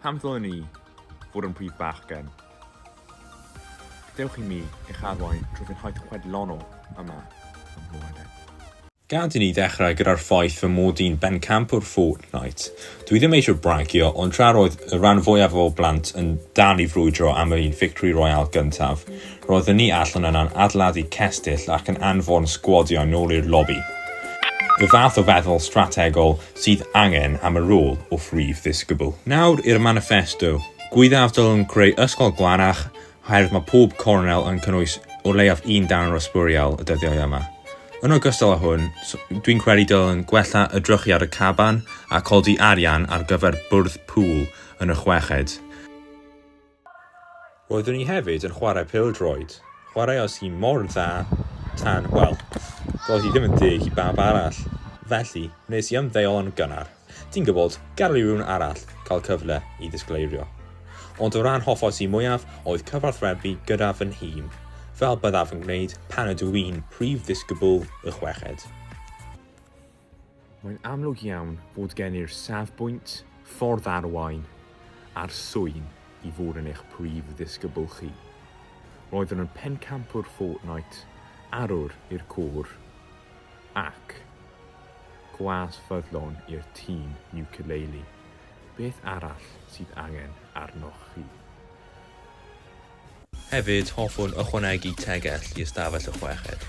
Pam ddylen ni fod yn prif bachgen? Dewch i mi eich arwain trwy fynhau chwedlonol yma ym Mhrydain. Gad i ni ddechrau gyda'r ffaith fy mod i'n bencampwr Fortnite. Dwi ddim eisiau bragio, ond tra roedd y rhan fwyaf o blant yn dal i frwydro am yr un Victory Royale gyntaf, roeddwn ni allan yna'n adeiladu cestyll ac yn anfon sgwadiau nôl i'r lobi. Y fath o feddwl strategol sydd angen am y rôl o Phrif Ddisgybl. Nawr i'r maniffesto. Gwyddaf dylwn creu ysgol glanach oherwydd mae pob cornel yn cynnwys o leiaf un darn o sbwriel y dyddiau yma. Yn ogystal â hwn, dwi'n credu dylwn gwella y drychu ar y caban a codi arian ar gyfer bwrdd pŵl yn y chweched. Roeddwn i hefyd yn chwarae pêl-droed. Chwaraeais hi mor dda tan, wel, doedd hi ddim yn deg i bawb arall. Felly, wnes i ymddeol yn gynnar. Ti'n gwybod, gadael i rywun arall cael cyfle i ddisgleirio. Ond y rhan hoffais i mwyaf oedd cyfathrebu gyda fy nhîm, fel byddaf yn gwneud pan ydw i'n prif ddisgybl y chweched. Mae'n amlwg iawn bod gen i'r safbwynt, ffordd arwain, a'r swyn i fod yn eich prif ddisgybl chi. Roeddwn yn pencampwr Fortnite, arwr i'r côr, Ac, gwas ffyddlon i'r tîm Ukulele, beth arall sydd angen arnoch chi? Hefyd, hoffwn ychwanegu tegell i ystafell y chweched.